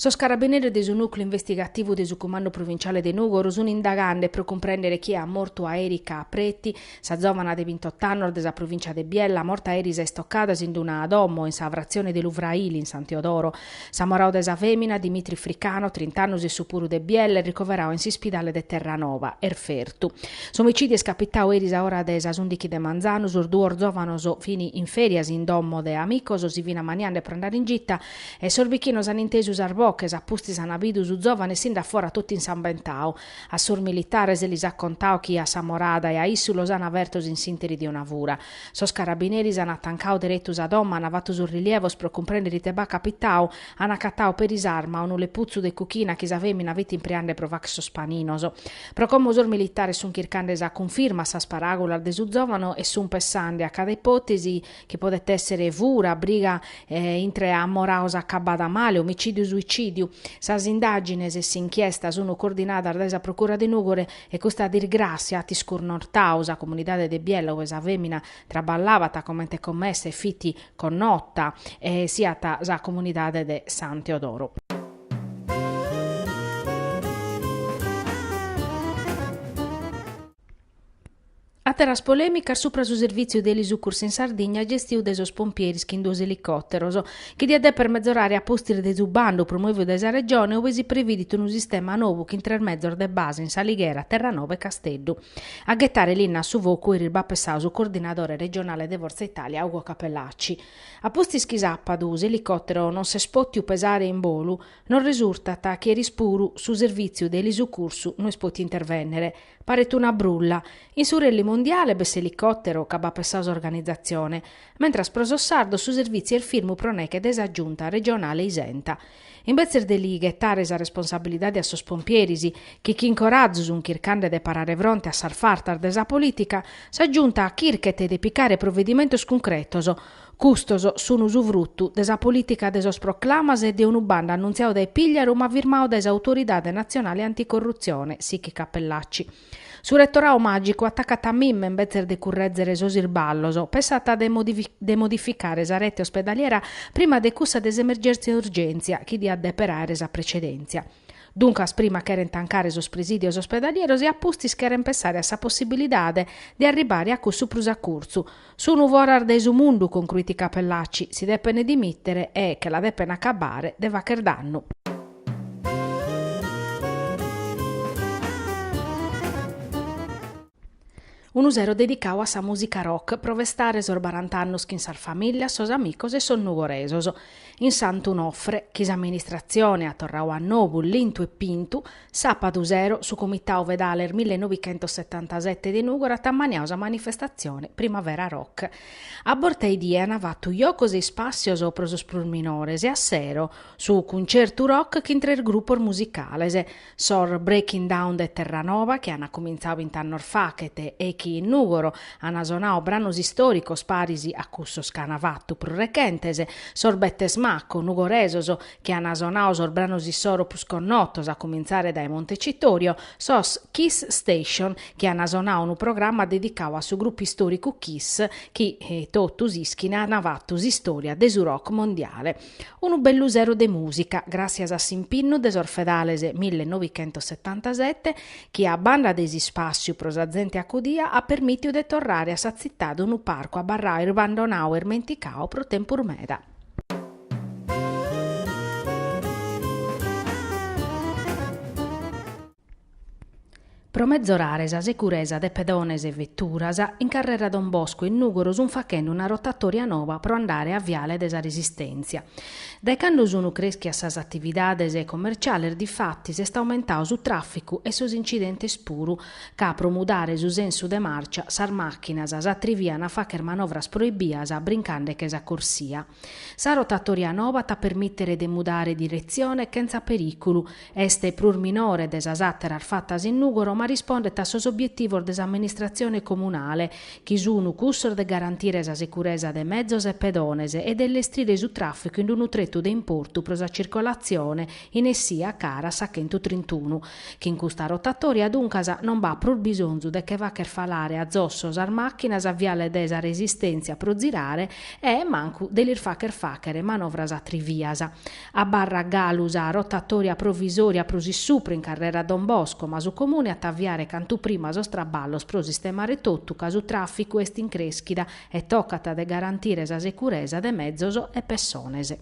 Sos carabineros de su nùcleu investigativu de su Cumandu Provinciale de Nùgoro sun indagande pro cumprèndere chie at mortu a Erika Preti Sa zòvana de bintot'annos de sa provìncia de Biella, morta eris a istocadas ind una domo, in sa fratzione de Lu Fraili, in San Teodoro. S'amoradu de sa fèmina, Dimitri Fricano, trint'annos issu puru de Biella, est ricoveradu in s'ispidale de Terranova, est fertu. S'omicìdiu est capitadu eris a ora de sas ùndichi de manzanu, sos duos zòvanos fin in fèrias in domo de amicos, si fin ammaniande pro andare in gita e sos bichinos an intesu sas boches, a pustis an bidu su zòvane essinde a fora totu insambentadu. A sos militares lis at contadu chi a s'amorada e a issu los ana fertos in s'interi de una fura. Sos carabineris an atancadu deretu sa domo, an fatu sos rilievos pro cumprender ite b'at capitadu, an acatadu peri s'arma, unu leputzu de cuchina chi sa fèmina fit impreande pro fàcher sos paninos. Pro como sos militares sun chircande sa cunfirma a sas paràgulas de su zòvanu e sun pessande a cada ipòtesi, chi podet èssere fura, briga intre amorados acabada male, omicìdiu-suicìdiu. Sas indàgines e s'inchiesta sunt coordinadas dae sa Procura de Nùgoro e custa disgràssia at iscurnortadu sa comunidade de Biella ue sa fèmina traballabat comente commessa e fit connota e siat sa comunidade de San Teodoro. Àteras polèmicas supra su servìtziu de elisucursu in Sardigna gestiu dae sos pompieris chin duos elicòteros, chi diat dèper metzorare a pustis de su bandu promovidu dae sa Regione ue si previdit unu sistema nou chin tres mezos de base in S'Alighera, Terranova e Casteddu. A ghetare linna a su focu eris b'at pessadu su coordinadore regionale de Forza Italia Ugo Cappellacci. A pustis chi sàpadu s'elicòtero non s'est pòtiu pesare in bolu, nos resurtat chi eris puru su servìtziu de elisucursu no est pòtiu intervènnere. Paret una brulla. In su Rally Mondiale b'est s'elicòtero ca b'at pessadu s'organizatzione, mentras pro sos sardos su servìtziu est firmu pro neche de sa Giunta regionale isenta. Imbetzes de li ghetare sa responsabilidade a sos pompieris, chi chin corazu sunt chircande de parare fronte a sas fartas de sa polìtica, sa Giunta chirchet de picare provedimentos cuncretos, Custos sunu su frutu de sa polìtica de sos proclamas e de unu bando annuntziadu dae Pigliaru ma firmadu dae s'Autoridade Natzionale Anticorrutzione, sichit Cappellacci. Su retoradu màgicu atacat a mime imbetzes de currèzere sos isballos, pensat de modificare sa rete ospedaliera prima de cussa de s'emergèntzia-urgèntzia chi diat dèper àere sa precedèntzia. Duncas prima cherent tancare sos presìdios ospedalieros e a pustis cherent pensare a sa possibilidade de arribare a cussu prus a curtzu. Sun foras de su mundu, concruit Cappellacci, si depent dimìtere e che la depent acabbare de fagher dannu. Unu sero dedicau a sa mùsica rock pro festare sos barant'annos chin sas famìllias, sos amicos e sos nugoresos. In Sant'Unofre, chi s'amministratzione at torrau a nobu lintu e pintu, sàpadu sero su Comitau Vedales mille novighentossetantasete de Nùgoro at ammaniau sa manifestatzione Primavera Rock. A borta 'e die an fatu jocos e ispàssios pro sos prus minores e a sero su Cuncertu Rock chin tres grupos musicales, Sos Breaking Down de Terranova, chi an cumintzadu bint'annos faghet e chi in Nùgoro an sonadu branos istòricos paris a cussos chi an fatu prus rechentes, sos Bettes Maco, nugoresos, chi an sonadu sos branos issoro prus connotos, a cumintzare dae Montecitorio, sos Kiss Station, chi an sonadu unu programma dedicadu a su grupu istòricu Kiss, chi totus ischin an fatu s'istòria de su rock mondiale. Unu bellu sero de mùsica, gràssias a s'impinnu de sos fedales mille novichentos setantasete, chi a banda de s'ispàssiu pro sa zente acudia at permìtiu de torrare a sa tzitade unu parcu abarradu abbandonadu e irmenticadu pro tempus meda. Pro mezorare sa securesa de pedones e veturas, in carrera Don Bosco in Nùgoro sunt faghende una rotatòria noba pro andare a Viale de sa Resistèntzia. Dae cando sunt crèschias sas atividades comerciales difatis s'est aumentadu su tràficu e sos incidentes puru, ca pro mudare su sensu de màrcia sas màchinas s'atrivian a fàghere manovras proibias brincande che sa corsia. Sa rotatoria noba at a permìtere de mudare diretzione chentza perìculu. Est prus minore de sas àteras fatas in Nùgoro ma rispondet a sos obietivos de s'amministratzione comunale, chi sunt cussos de garantire sa securesa de mezos e pedones e de illestrire su tràficu in unu tretu de importu pro sa circolatzione in essia cara a sa chentu trintunu. Chin custa rotatòria duncas non b'at prus bisonzu de che fagher falare a zosso sas màchinas a viale de sa resistèntzia pro zirare e mancu de lis fagher fàghere manovras atrivias. Abarrat galu sa rotatòria provisòria prus in supru in carrera Don Bosco, ma su Comune at a aviare cantu prima sos traballos pro sistemare totu ca su tràficu est in crèschida e tocat de garantire sa securesa de mezos e pessones.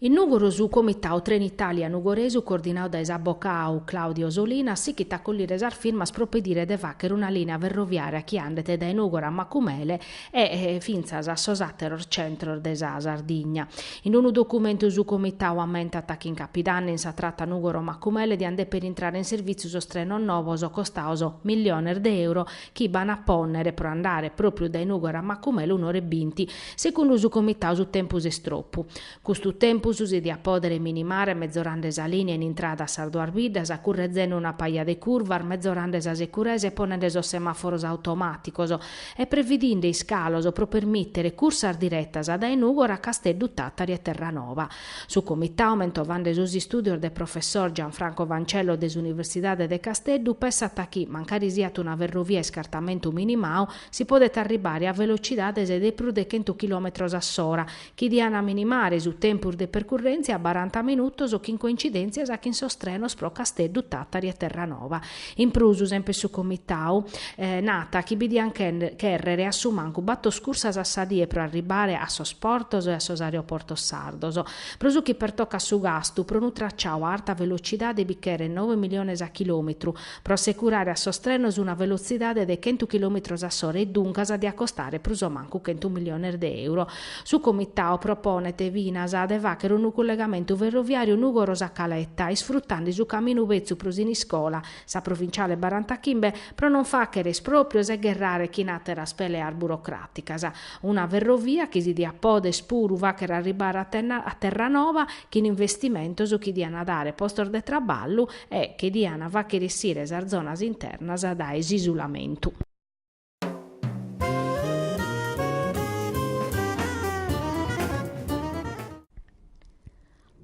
In Nùgoro su Comitau Trenitalia Nugoresu coordinau dae s'abocau Claudio Solinas sichit a collire sas firmas pro pedire de fàghere una lìnea ferroviària chi andet dae Nùgoro a Macumele e fintzas a sos àteros centros de sa Sardigna. In unu documentu su Comitau ammentat chi in Capidanni in sa trata Nùgoro-Macumele diant dèpere intrare in servìtziu sos trenos novos costaos miliones de euro chi b'ant a pònnere pro andare pròpriu dae Nùgoro a Macumele un'ora e binti, segundu su comitau su tempus est tropu. Custu tempus si diat pòdere minimare mezorande sa lìnea in intrada a sas duas biddas, currezende una paja de curvas, mezorande sa securesa e ponende sos semàforos automàticos, e previdinde iscalos pro permìtere cursas diretas dae Nùgoro a Casteddu Tàtari e Terranova. Su Comitau, mentovande sos istùdios de professor Gianfranco Fancello de s'Universidade de Casteddu, pensat chi, mancari siat una ferrovia a iscartamentu minimau, si podet arribare a velocidades de prus de chentu chilòmetros a s'ora, chi diant minimare su tempus de percurrèntzia a baranta minutos chin coincidèntzias chin sos trenos pro Casteddu, Tàtari e Terranova. In prus, semper su Comitau nat chi bi diant chèrrere a su mancu bator cursas a sa die pro arribare a sos portos e a sos aeroportos sardos. Pro su chi pertocat su gastu pro unu traciau a arta velocidade bi cheret nove miliones a chilòmetru pro assecurare a sos trenos una velotzidade de chentu chilòmetros a s'ora e duncas diat costare prus o mancu chentu miliones de euro. Su Comitau proponet finas de fàghere unu cullegamentu ferroviàriu Nugoro-Sa Caleta, isfrutande su caminu betzu pro Siniscola, sa provinciale barantachimbe, pro non fàghere espròprios e gherrare chin àteras peleas burocràticas. Una ferrovia chi si diat poder puru fàghere arribare a Terranova chin investimentos chi diant dare postos de traballu e che diant fàghere essire sas zonas internas dae s'isulamentu.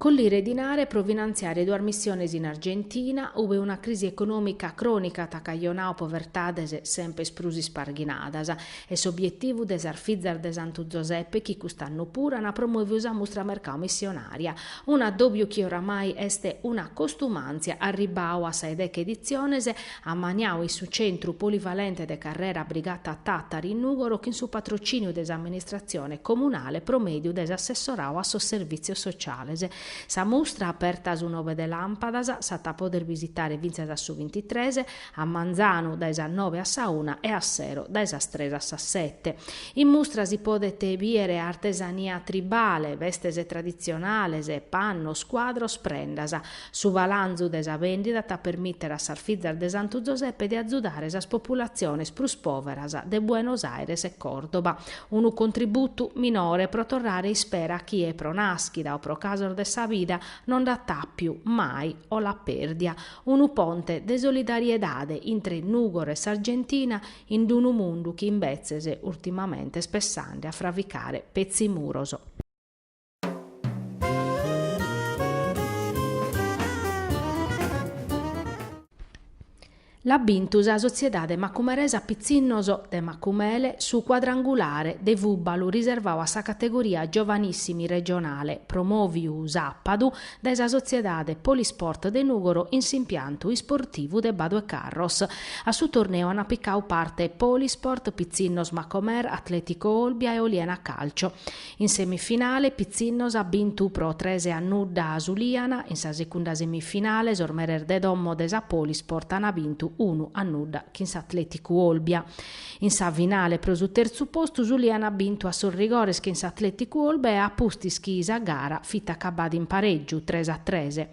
Collire dinare pro finantziare duas missiones in Argentina, ube una crisi econòmica crònica at cajonau povertades semper prus isparghinadas, est s'obietivu de sas Fizas de Santu Zoseppe chi cust'annu puru ant promòviu sa mustra mercau missionària, un'addòbiu chi oramai est una costumàntzia arribau a sas deghe editziones, ammaniau in su Centru Polivalente de Carrera Brigata Tàtari in Nùgoro chin su patrocìniu de s'Amministratzione Comunale pro mèdiu de s'Assessorau a sos Servìtzios Sociales. Sa mustra, aperta a su nove de làmpadas, s'at a poder bisitare fintzas a su bintitres, a manzanu, dae sas nove a sa una e a sero, dae sas tres a sas sete. In mustra si podet bìere artesania tribale, bestes traditzionales, pannos, cuadros, prendas. Su balanzu de sa bèndida at a permìtere a sas fizas de Santu Zoseppe de azudare sas populatziones prus pòveras de Buenos Aires e Còrdoba, unu contributu minore pro torrare ispera a chie pro nàschida o pro casos de sa vida non dd'at àpia mai o l'at pèrdia, unu ponte de solidariedade intre Nùgoro e s'Argentina in d-unu mundu chi imbetzes urtimamente est pessende a fravicare petzi muros. L'at bintu sa sotziedade Macumeresa Pitzinnos de Macumele su cuadrangulare de fùbalu riservadu a sa categoria giovanissimi regionale promòviu sàpadu dae sa sotziedade Polisport de Nùgoro in s'impiantu isportivu de Badu 'e Carros. A su torneu ant picau parte Polisport, Pitzinnos Macomer, Atletico Olbia e Oliena Calcio. In semifinale Pitzinnos at bintu pro tres a nudda a s'Uliana, in sa segunda semifinale sos meres de domo de sa Polisport an bintu unu a nudda chin s'Atleticu Olbia. In sa finale pro su terzu postu s'Uliana at bintu a sos rigores chin s'Atleticu Olbia a pustis chi sa gara fit acabbada in pareggiu, tres a tres.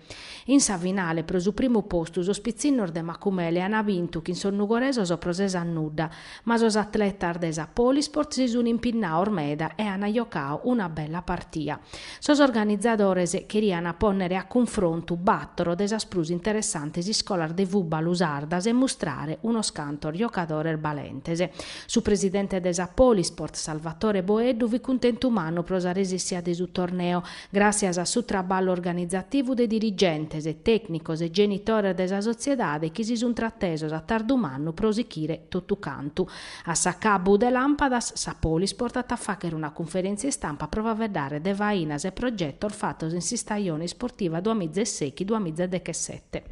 In sa finale pro su primu postu sos pitzinnos de Macumele an bintu chin sos nugoresos pro ses a nudda, Ma sos atletas de sa Polisport si sun impinnaos meda e an jocau una bella partia. Sos organizadores cherian pònnere a cunfrontu bàtoro de sas prus interessantes iscolas de fùbalu sardas e mustrare unos cantos jocadores balentes. Su presidente de sa Polisport, Salvatore Boeddu fit cuntentu mannu pro sa resissia de su torneo, Gràtzias a su traballu organizativu de dirigentes e tècnicos e genitores de sa sotziedade chi si sunt tratesos a tardu mannu pro sichire totu cantu. A s'acabbu de Làmpadas, sa Polisport at a fàchere una cunferèntzia istampa pro faveddare de fainas e progetos fatos in s'istajone isportiva duas miza e sèichi duas miza e dechesete.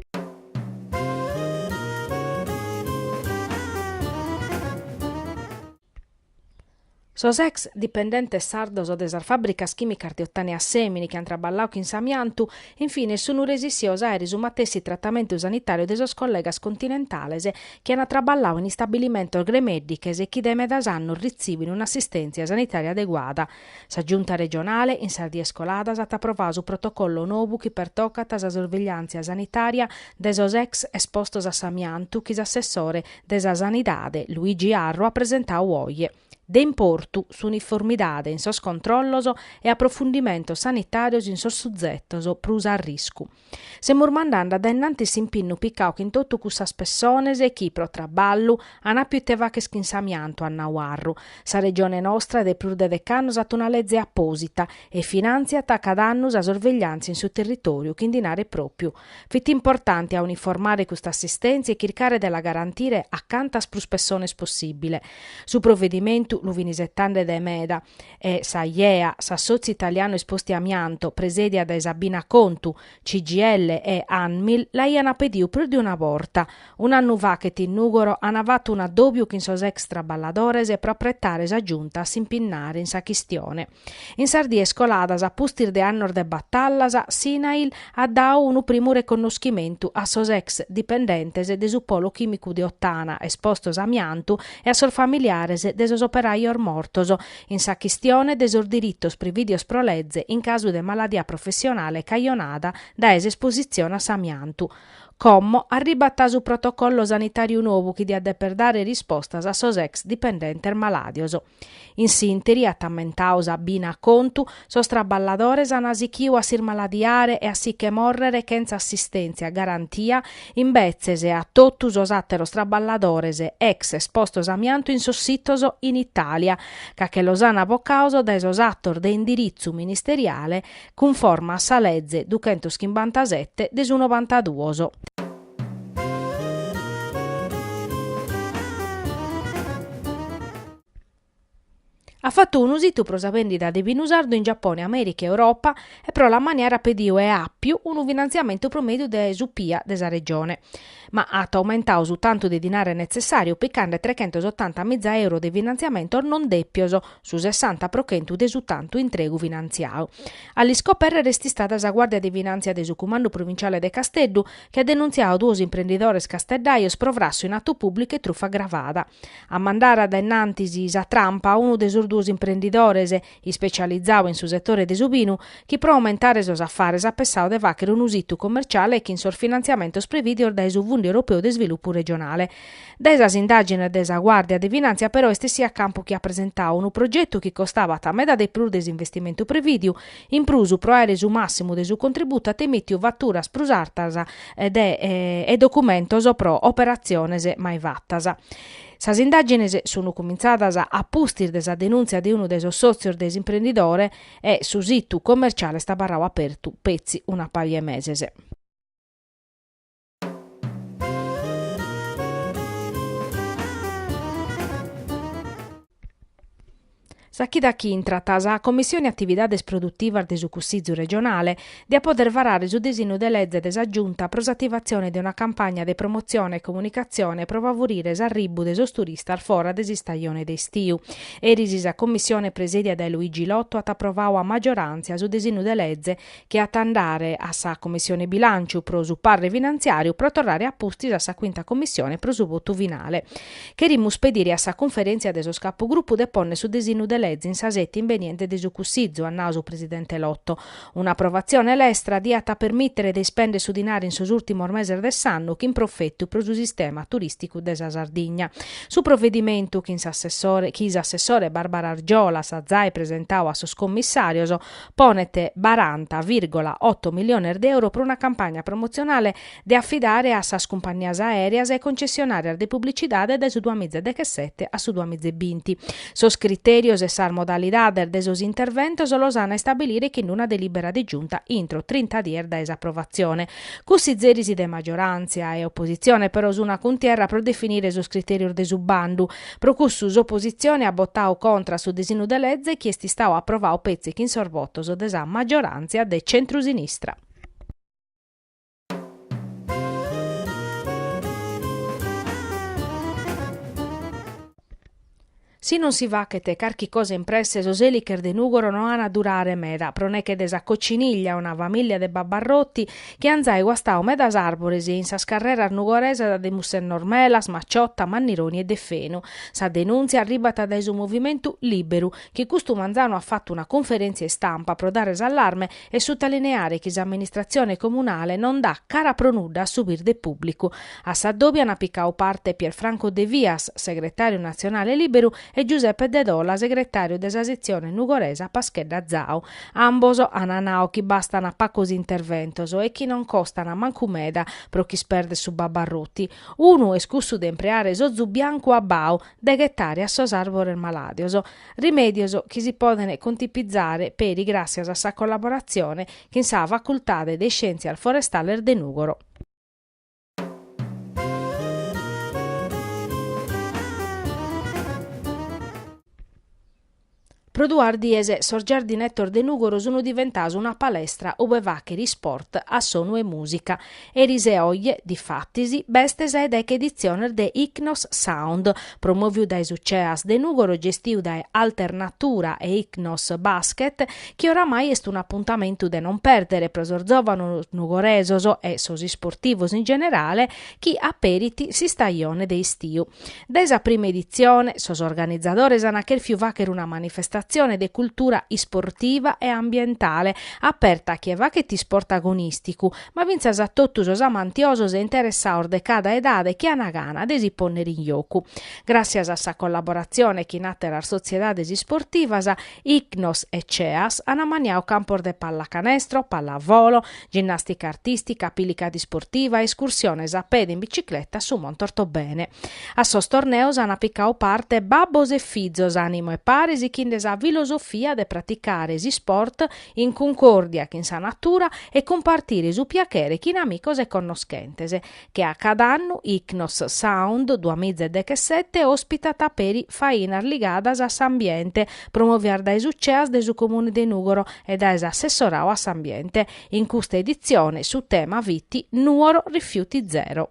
Sos ex dipendentes sardos de sas fàbricas chìmicas de Ottana e Assemini chi ant traballau chin s'amiantu, in fines sun resissios a aere su matessi tratamentu sanitàriu de sos collegas continentales chi ant traballau in istabilimentos gremèddiches e chi dae medas annos ritzibin un'assistèntzia sanitària adeguada, Sa Giunta regionale, in sas dies coladas, at aprovau su protocollo nobu chi pertocat sa sorvigliàntzia sanitària de sos ex espostos a s'amiantu chi s'assessore de sa Sanidade, Luigi Arru, at presentau oje. De importu, s'uniformidade in sos controllos e aprofundimentos sanitàrios in sos suzetos prus a arriscu. Semus mandande dae innantis s'impinnu picau chin totu cussas pessones chi pro traballu an appiu ite fagher chin s'amiantu, at nau Arru. Sa Regione nostra de prus de dec'annus at una leze apposita e finantziat cada annu sa sorvegliantzia in su territoriu chin dinare propiu. Fit importante a uniformare custa assistentzia e chircare de la garantire a cantas prus pessones possibile. Su provedimentu lu fin isetande de meda e s'Aiea, s'Assotziu Italianu Esposti a Amianto, presèdia dae Sabina Contu, CGIL e Anmil, l'aiana pediu prus de una borta. Un'annu faghet in Nùgoro ana fatu un'addòbiu chin sos ex traballadores pro apretare sa Giunta a s'impinnare in sa chistione. In sas dies coladas a pustis de annos de batallas, s'INAIL at dau unu primu reconnoschimentu a sos ex dipendentes de su Polo Chìmicu de Ottana espostos a amiantu e a sos familiares de sos operajos mortos, in sa chistione de sos diritos prividios pro leze in casu de maladia professionale cajonada dae s'espositzione a s'amiantu. Como arribat su protocollo sanitàriu nou chi diat deper dare rispostas a sos ex dipendentes malàdios. In s'interi, at ammentau Sabina Contu, sos traballadores an sichiu a s'ismaladiare e a si che morrere chentza assistèntzia garantia imbetzes a totu sos àteros traballadores ex espostos amiantu in sos sitos in Itàlia, ca che los an bocaos dae sos atos de indiritzu ministeriale cunforma a sa leze duchentos chimbantasette de su novantaduos. At fatu unu situ pro sa bèndida de binu sardu in Giapone, Amèrica e Europa e pro l'ammaniare at pediu e àpiu unu finantziamentu pro mèdiu de su PIA de sa Regione. Ma at aumentau su tantu de dinare netzessàriu picande trechentos otanta miza euro de finantziamentos non dèpios, su sessanta pro chentu de su tantu intregu finantziadu. A l'iscopèrrere est istada sa Guàrdia de Finàntzia de su Cumandu Provinciale de Casteddu, chi at denuntziau duos imprendidores casteddajos pro frassu in atu pùblicu e trufa agravada. A mandare dae innantis sa trampa unu de sos duos imprendidores, ispecializau in su setore de su binu, chi pro aumentare sos afares at pessau de fàchere unu situ commerciale chin sos finantziamentos prevìdios dae su Fundu Europeu de Isvilupu Regionale. Dae sas indàgines de sa Guàrdia de Finàntzia però est essiu a campu chi at presentau unu progetu chi costabat meda de prus de s'investimentu prevìdiu, In prus, pro àere su màssimu de su contributu at emìtiu faturas prus artas de e documentos pro operatziones mai fatas. Sas indàgines sun cumintzadas a pustis de sa denùntzia de unu de sos sòtzios de s'imprendidore e su situ commerciale est abarrau apertu petzi una paja 'e meses. Sa chida chi intrat sa Commissione Atividades Produtivas de su Cussìgiu regionale diat poder varare su disinu de lege de sa Giunta pro s'ativatzione de una campagna de promotzione e comunicatzione pro favurire s'arribbu de sos turistas fora de s'istajone de istiu. Eris sa Commissione presèdia dae Luigi Lotto at aprovadu a maggioràntzia su disinu de lege chi at a andare a sa Commissione Bilànciu pro su parre finantziàriu pro torrare a pustis a sa Cuinta Commissione pro su votu finale. Cherimus pedire a sa Cunferèntzia de sos Capugrupu de pònnere su disinnu de lege in sa sètia imbeniente de su Cussizu, at nau su presidente Lotto. Un'aprovatzione lestra diat a permìtere de ispèndere su dinari in sos ùrtimos meses de s'annu chin profetu pro su sistema turìsticu de sa Sardigna. Su provedimentu, chi s'assessore Barbara Argiolas at zai presentau a sos commissàrios, ponet baranta virgola oto miliones de euro pro una campagna promotzionale de afidare a sas cumpannias aèreas e concessionàrias de publicidade dae su duamiza e dechesete a su duamiza e binti. Sos critèrios e sas modalidades de sos interventos los an a istabilire chin una delìbera de Giunta intro trinta dies dae s'aprovatzione. Cussizeris de magioràntzia e opositzione però sun a cuntierra pro definire sos critèrios de su bandu, Pro cussu s'opositzione at botau contra su disinu de leze chi est istau aprovau petzi chin sos votos de sa maggioràntzia de centrusinistra. Si non si fachet carchi cosa in presse sos èliches de Nùgoro no an a durare meda, pro neche de sa cocciniglia, una famìllia de babbarroti, chi an zai guastau medas arbores in sas carreras nugoresas de Mussennor Melas, Macciotta, Mannironi e Deffenu. Sa denuntzia arribat dae su movimentu Liberu, chi custu manzanu at fatu una conferentzia istampa pro dare s'allarme e sutalineare chi s'amministratzione comunale non dat cara pro nudda a su birde pùblicu. A s'addòbiu an picau parte Pier Franco Devias, segretàriu natzionale Liberu, e Giuseppe Dedola, segretàriu de sa setzione nugoresa Paschedda Zau. Ambos ana nau chi bastana pacos interventos e chi non costana mancu meda pro ch'isperder su babbarroti. Unu est cussu de impreare s'ozu biancu abbau de ghetare a sos arbores maladios. Rimedios chi si podene contipizzare peri gratzias a sa collaborazione chin sa Facultade de Iscientzias Forestales de Nugoro. Pro duas dies sos giardinettos de Nùgoro sun diventaos una palestra ube fàchere isport a sonu 'e mùsica. Eris e oje, difatis, b'est sa 'e deche editziones de Ichnos Sound, promòviu dae su CEAS de Nùgoro gestiu dae Alternatura e Ichnos Basket, chi oramai est un'apuntamentu de non pèrdere pro sos zòvanos nugoresos e sos isportivos in generale chi aperint s'istajone de istiu. Dae sa prima editzione, sos organizadores ant chèrfiu fàghere una manifestassione de cultura isportiva e ambientale, aperta a chie faghet isport agonìsticu, ma fintzas a totu sos amantiosos e interessados de cada edade chi ant gana de si pònnere in jocu. Gràssias a sa collaboratzione chin àtteras sotziedades isportivas, Icnos e CEAS an ammaniadu campos de pallacanestro, pallavolo, ginnàstica artìstica, pilicadi sportiva, escursiones a pede e in bicicleta a su Monte Ortobene. A sos torneos an picadu parte babbos e fizos ànimu 'e pare sichinde sa filosofia de praticare s'isport in cuncòrdia chin sa natura e cumpartire su piachere chin amicos e connoschentes. Che a cada annu Icnos Sound duamiza e dechesete at ospitadu peri fainas ligadas a s'ambiente promovias dae su CEAS de su Comune de Nùgoro e dae s'Assessorau a s'Ambiente. In custa editzione su tema fit Nuoro rifiuti zero.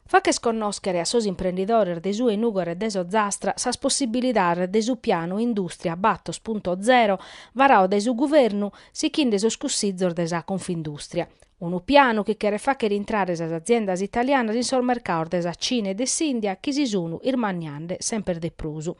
Fàcher connòschere a sos imprendidores de su Nugoresu e de s'Ozastra sas possibilidades de su pianu Industria Battor Punto Zero varadu dae su Guvernu sichinde sos cussizos de sa Confindustria. Unu pianu chi cheret fàghere intrare sas aziendas italianas in sos mercados de sa Cina e de s'India chi si sun irmanniande semper de prus.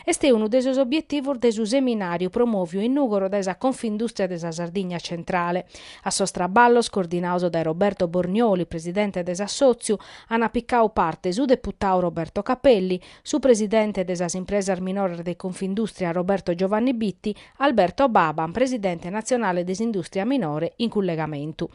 Est unu de sos obietivos de su seminàriu promòviu in Nùgoro dae sa Confindustria de sa Sardigna Centrale, A sos traballos, coordinados dae Roberto Bornioli, presidente de s'assòtziu, ant picadu parte su deputadu Roberto Capelli, su presidente de sas impresas minores de Confindustria Roberto Giovanni Bitti, Alberto Baban, presidente natzionale de s'industria minore in cullegamentu.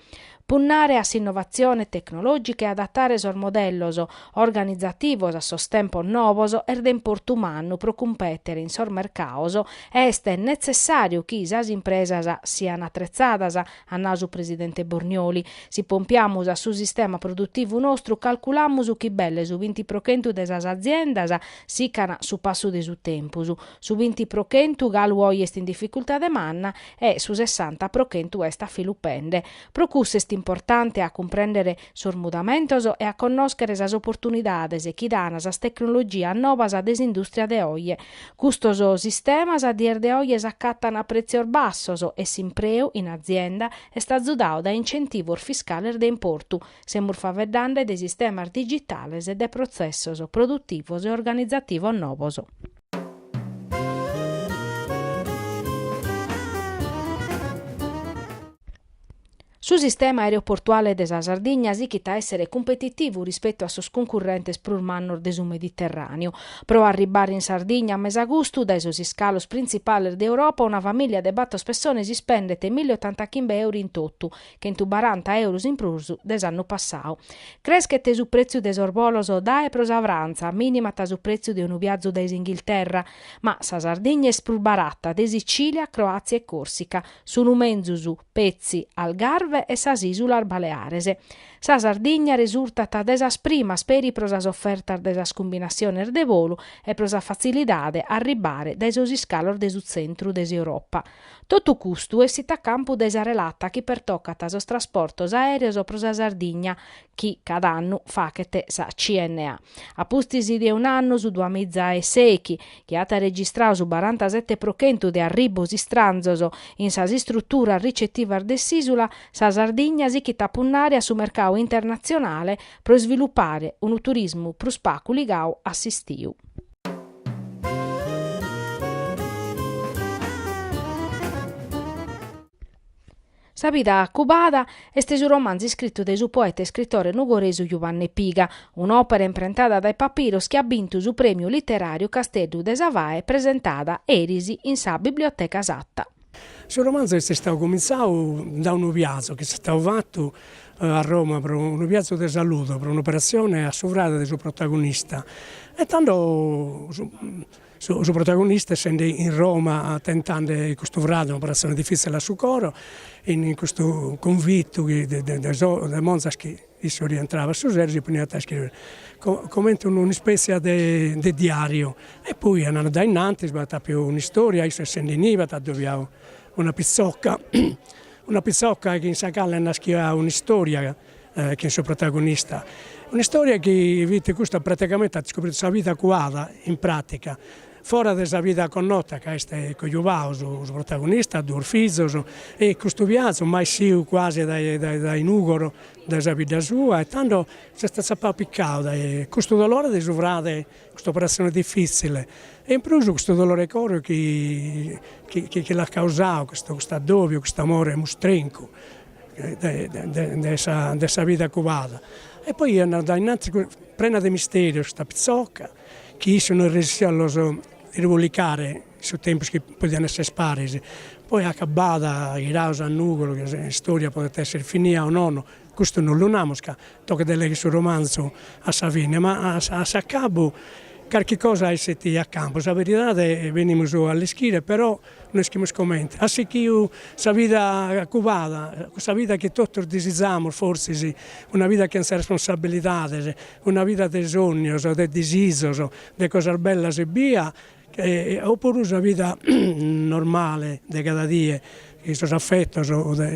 Punnare a s'innovatzione tecnològica e adatare sos modellos organizativos a sos tempos nobos est de importu mannu pro cumpètere in sos mercados Est netzessàriu chi sas impresas sian atretzadas, at nadu su presidente Bornioli. Si pompiamus a su sistema produtivu nostru calculamus chi belle su binti pro chentu de sas aziendas sican su passu de su tempus, su binti pro chentu galu oje est in dificultade manna e su sessanta pro chentu est afilupende. Pro cussu est importante a cumprèndere sos mudamentos e a connòschere sas oportunidades chi dan sas tecnologias nobas de s'indùstria de oje. Custos sistemas a dies de oje s'acatan a prètzios bassos e s'impreu in azienda est azudadu dae incentivos fiscales de importu, semus faveddande de sistemas digitales e de protzessos produtivos e organizativos nobos. Su sistema aereoportuale de sa Sardigna sichit a èssere cumpetitivu rispetu a sos cuncurrentes prus mannos de su Mediterràneu. Pro arribbare in Sardigna a mesagustu, dae sos iscalos printzipales de Europa, una famìlia de bator pessones ispendet milli otantachimbe euros in totu, chentu baranta euros in prus de s'annu passadu. Creschet su prètziu de sos bolos dae e pro sa Frantza, minimat su prètziu de unu viazu dae s'Inghilterra, ma sa Sardigna est prus barata de Sicìlia, Croàtzia e Còrsica, sunt menzus. petzi Algarve e sas Ìsulas Baleares. Sa Sardigna resurtat de sas primas peri pro sas ofertas de sas cumbinatziones de volu e pro sa fatzilidade a arribbare dae sos iscalos de su tzentru de s'Europa. Totu custu essit a campu dae sa relata chi pertocat sos trasportos aèreos pro sa Sardigna, chi cada annu faghet sa CNA. A pustis de un'annu su duamiza e sèichi chi at registradu su barantasete pro chentu de arribbos istranzos in sas istruturas ricetivas de s'isula, sa Sardigna sichit a punnare a su mercadu internatzionale pro isvilupare unu turismu prus pagu ligadu a s'istiu. Sa bida cubada est su romanzu iscritu dae su poeta e iscritore nugoresu Juvanne Piga, un'òpera imprentada dae Papiros chi at bintu su prèmiu literàriu Casteddu de sa Fae presentada eris in sa Biblioteca Satta. Su romanzu est istadu comintzadu dae unu viazu chi est istadu fatu a Roma pro unu viazu de salude, pro un'operatzione a su frade de su protagonista e tando Su protagonista essende in Roma tentande custu frade, un'operazione diffizzile a su coro, in custu cunvittu chi de monzas chi issu rientrava a su sero si poniat a iscrivere comente un'ispezia de diariu e poi andande a innantis b'at apiu un'istoria, issu essende inibe at addobiau una pitzocca, una pitzocca chi in sa cale naschiat un'istoria chin su protagonista. Un'istoria chi fit custa praticamente at scopritu sa vida cuada in pratica, fora de sa vida connota ca est cojubau su protagonista, duos fizos e custu viazu mai essiu cuasi dae dae Nugoro dae sa bidda sua e tando s'est tzapau picau dae custu dolore de su frade, custa operazione diffizzile e in prus custu dolore 'e coro chi chi l'at causau custu custu addobiu, cust'amore mustrencu de sa vida cubada e poi andande a innantis prena de misterios custa pitzoca chi issu no est resessiu a los irbolicare in su tempus chi podian essere paris, poi acabada, ghiraus a Nugoro, chi sa istoria podet esser finia o nono, custu no lu namus ca Tocat de leghere su romanzu a sa fine, ma a s'acabu carchi cosa esset a campu, sa veridade venimus a l'ischire, però no ischimus comente. Si at sichiu sa vida cubada, cussa vida chi totus disizamus forsis, una vida chin sas responsabilidades, una vida de sònnios, de disizos, de cosas bellas ebbia E oppuru sa vida normale de cada die, sos affettos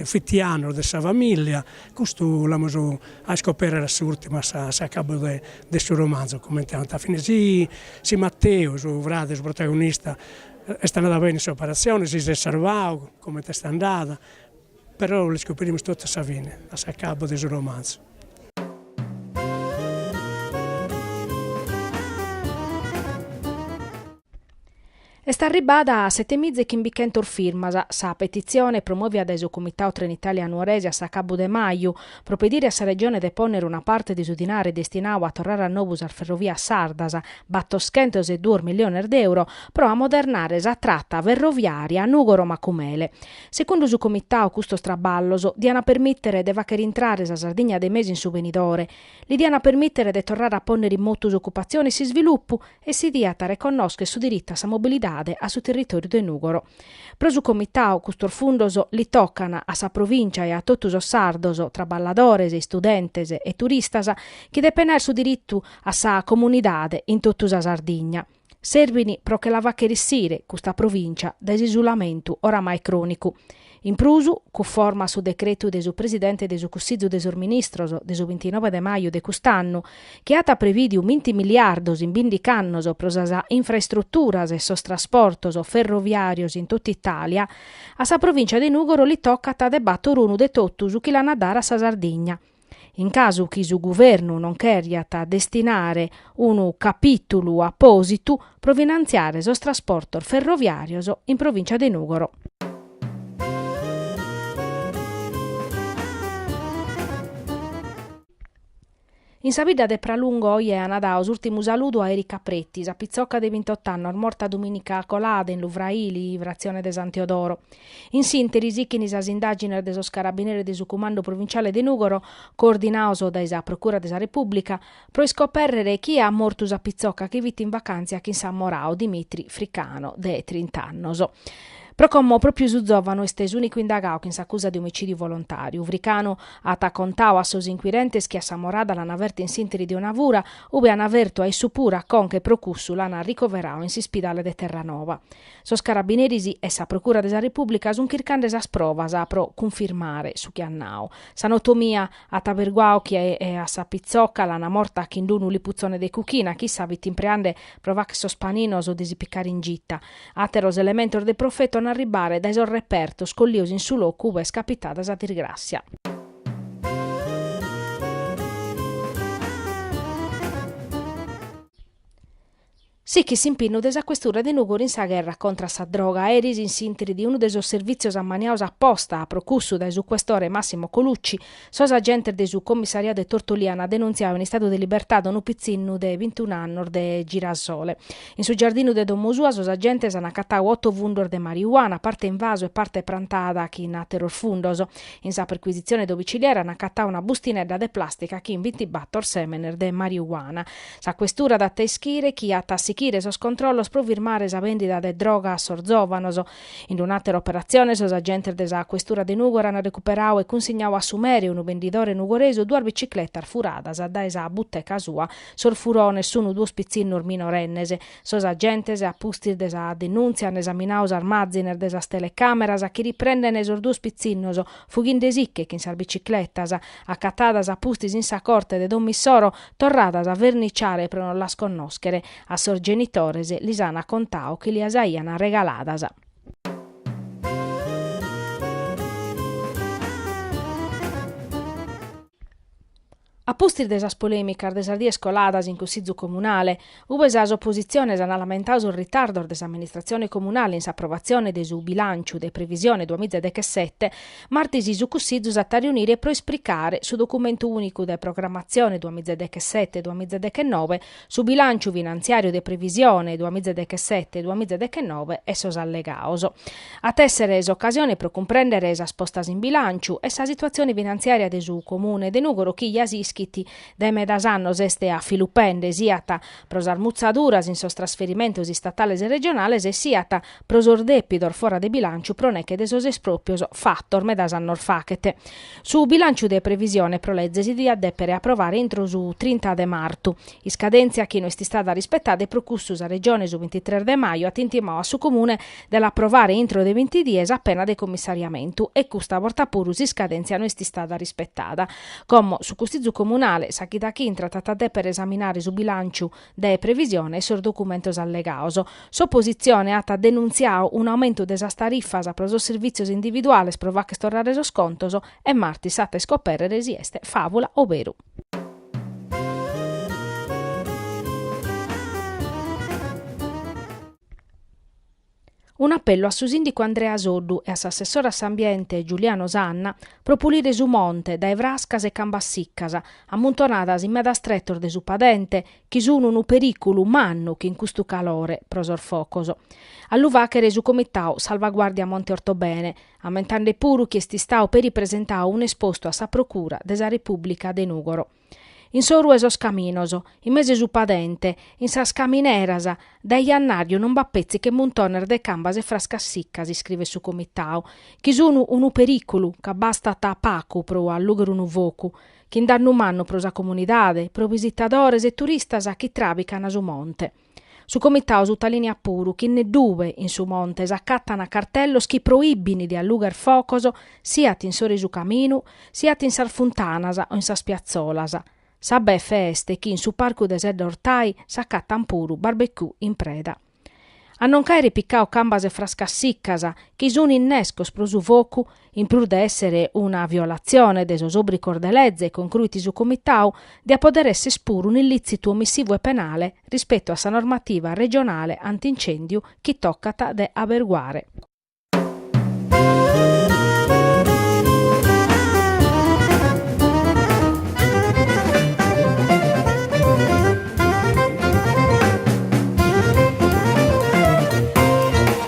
fittianos de sa familia, custu l'amus a iscoperrere a s'urtimu a s'acabu de su romanzu, comente ant a finire. Si Matteu, su frade, su protagonista, est andada bene in s'operatzione, si s'est sarvau, comente est andada Però l'iscoperimus totu a sa fine, a s'acabu de su romanzu. Est arribbada a setemiza e chimbichentos firmas sa petitzione promòvia dae su Comitau Trenitalia Nuorese a s'acabu de maju, pro pedire a sa Regione de pònnere una parte de su dinare destinau a torrare a nobu sas ferrovias sardas, battoschentos e duos milliones de euro, pro amodernare sa trata ferroviària Nùgoro-Macumele. Segundu su Comitau custos traballos diana permìtere de fàchere intrare sa Sardigna de mesu in su venidore, li diana permìtere de torrare a pònnere in motu s'ocupatzione e s'isvilupu e si diat reconnoscher su diritu a sa mobilidade a su territòriu de Nùgoro. Pro su Comitau custos fundos li tocan a sa Provìncia e a totu sos sardos, traballadores, istudentes e turistas, chi depen aer su diritu a sa comunidade in totu sa Sardigna. Serbin pro che la facher issire custa provìncia dae s'isulamentu oramai crònicu. In prus, cunforma su decretu de su Presidente de su Cussizu de sos Ministros de su bintinove de maju de cust'annu, chi at prevìdiu vinti miliardos in bindic'annos pro sas infraestruturas e sos trasportos ferroviàrios in totu Itàlia, a sa provìncia de Nùgoro li tocat de bator unu de totu su chi l'an a dare a sa Sardigna. In casu chi su Guvernu non cheriat destinare unu capìtulu apòsitu pro finantziare sos trasportos ferroviàrios in Provìncia de Nùgoro. In sa bidda de Pralungo oje ana dau s'ùrtimu saludu a Erika Preti, sa pitzoca de bintot'annos morta domìnica colada in Lu Fraili, fratzione de San Teodoro. In s'ìnteri sichint sas indàgines de sos carabineris de su Cumandu Provinciale de Nùgoro, coordinaos dae sa Procura de sa Repùblica, pro iscopèrrere chie at mortu sa pitzoca chi fit in vacàntzia chin s'ammorau Dimitri Fricano, de trint'annos. Pro como pròpiu su zòvanu est s'ùnicu indagau chin s'acusa de omicìdiu volontàriu, Fricano at contau a sos inquirentes chi a s'ammorada l'ana ferta in s'ìnteri de una fura, ue ana fertu a issu puru a conca e pro cussu l'an ricoverau in s'ispidale de Terranova. Sos carabineris e sa Procura de sa Repùblica sunt chircande sas provas pro cunfirmare su chi at nadu. Sa notomia at averguadu chi a sa pitzoca l'ant morta chin unu liputzone de cuchina, chi issa fit impreande pro fagher sos paninos de si picare in gita. Àteros elementos de profetu ant a arribare dae sos repertos collidos in su locu ue est capitada sa disgràssia. Sichit s'impinnu de sa Questura de Nùgoro in sa gherra contra a sa droga. Eris in s'intri de unu de sos servìtzios ammaniados a posta pro cussu, dae su Questore Massimo Colucci, sos agentes de su Commissariadu 'e Tortolì ant denunziadu in istadu de libertade unu pitzinnu de bintun'annos de Girasole. In su giardinu de domo sua sos agentes ant acatadu oto fundos de mariuana, parte in vasu e parte prantada chin àteros fundos. In sa percuisitzione domiciliare ant acatadu una bustinedda de plàstica chin bintibator sèmenes de mariuana. Sa Questura dat a ischire chi at a sichire sos controllos pro firmare sa bèndida de droga a sos zòvanos. In un'àtera operatzione sos agentes de sa Questura de Nùgoro an recuperadu e cunsignadu a su mere, unu bendidore nugoresu, duas bicicletas furadas dae sa buteca sua. Sos furones sun duos pitzinnos minorennes. Sos agentes, a pustis de sa denùntzia, an esaminadu sas imàzines de sas telecàmeras chi riprendent sos duos pitzinnos fughinde·si·che chin sas bicicletas. Acatadas a pustis in sa corte de domo issoro, Torradas a verniciare pro non las connòschere, a sos genitores lis an acontadu chi li·as aian regaladas. A pustis de sas polèmicas de sas dies coladas in Cussizu Comunale, Ue sas oppositziones ant lamentadu sos ritardos de s'amministratzione comunale in s'aprovatzione de su bilànciu de previsione duamiza e dechesete, martis su Cussizu s'at a riunire pro ispricare su documentu ùnicu de programmatzione duamiza e dechesete, duamiza e dechenove, su bilànciu finantziàriu de previsione duamiza e dechesete, duamiza e dechenove e sos allegados. At èssere s'ocasione pro cumprèndere sas postas in bilànciu e sa situatzione finantziària de su Comune de Nùgoro chi ja s'ischit Dae medas annos est a filu pende, siat pro sas mutzaduras in sos trasferimentos istatales e regionales e siat pro sos dèpidos fora de bilànciu pro neche de sos espròpios fatos medas annos faghet. Su bilànciu de previsione pro leze si diat dèpere aprovare intro su trinta de martu, iscadèntzia chi no est istada rispetada e pro cussu sa Regione su bintitres de maju at intimadu a su Comune de l'aprovare intro de binti dies a pena de commissariamentu e custa borta puru s'iscadèntzia no est istada rispetada. Como su Cussizu Comunale, sa chida chi intrat at a dèpere esaminare su bilànciu de previsione e sos documentos allegados. S'opositzione at denuntziadu un'aumentu de sas tarifas pro sos servìtzios individuales pro fagher torrare sos contos e martis s'at a iscopèrrere si est fàvula o beru. Un'apellu a su sìndicu Andrea Soddu e a s'assessore a s'Ambiente Giuliano Sanna pro pulire su monte dae frascas e cambas siccas ammuntonadas in medas tretos de su padente chi sun unu perìculu mannu chin custu calore pro sos focos. A lu fàchere su comitau Salvaguardia Monte Ortobene, ammentande puru chi est istau peri presentau un'espostu a sa Procura de sa Repùblica de Nùgoro. In s'oru 'e sos caminos, in mesu 'e su padente, in sas camineras, dae jannàrriu non b'at petzi che muntones de cambas e frascas siccas, iscrivet su Comitau, chi sun unu perìculu, ca bastat pacu pro allùghere unu focu, chin dannu mannu pro sa comunidade, pro visitadores e turistas chi tràbicana su monte. Su Comitau sutalìniat puru chi neddue in su monte s'acatant cartellos chi proìbint de allugher focos siat in s'oru 'e su caminu siat in sas funtanas o in sas piatzolas. Sa befe est chi in su parcu de Sedda Ortai s'acatant puru barbecue in preda. A non ch'àere picau cambas e frascas sicas chi sunt innescos pro su focu in prus de èssere una violatzione de sos òbricos de leze, concruit su Comitau, diat pòdere èsser puru un'illìtzitu omissivu e penale rispetu a sa normativa regionale anti-incèndiu chi tocat de aberguare.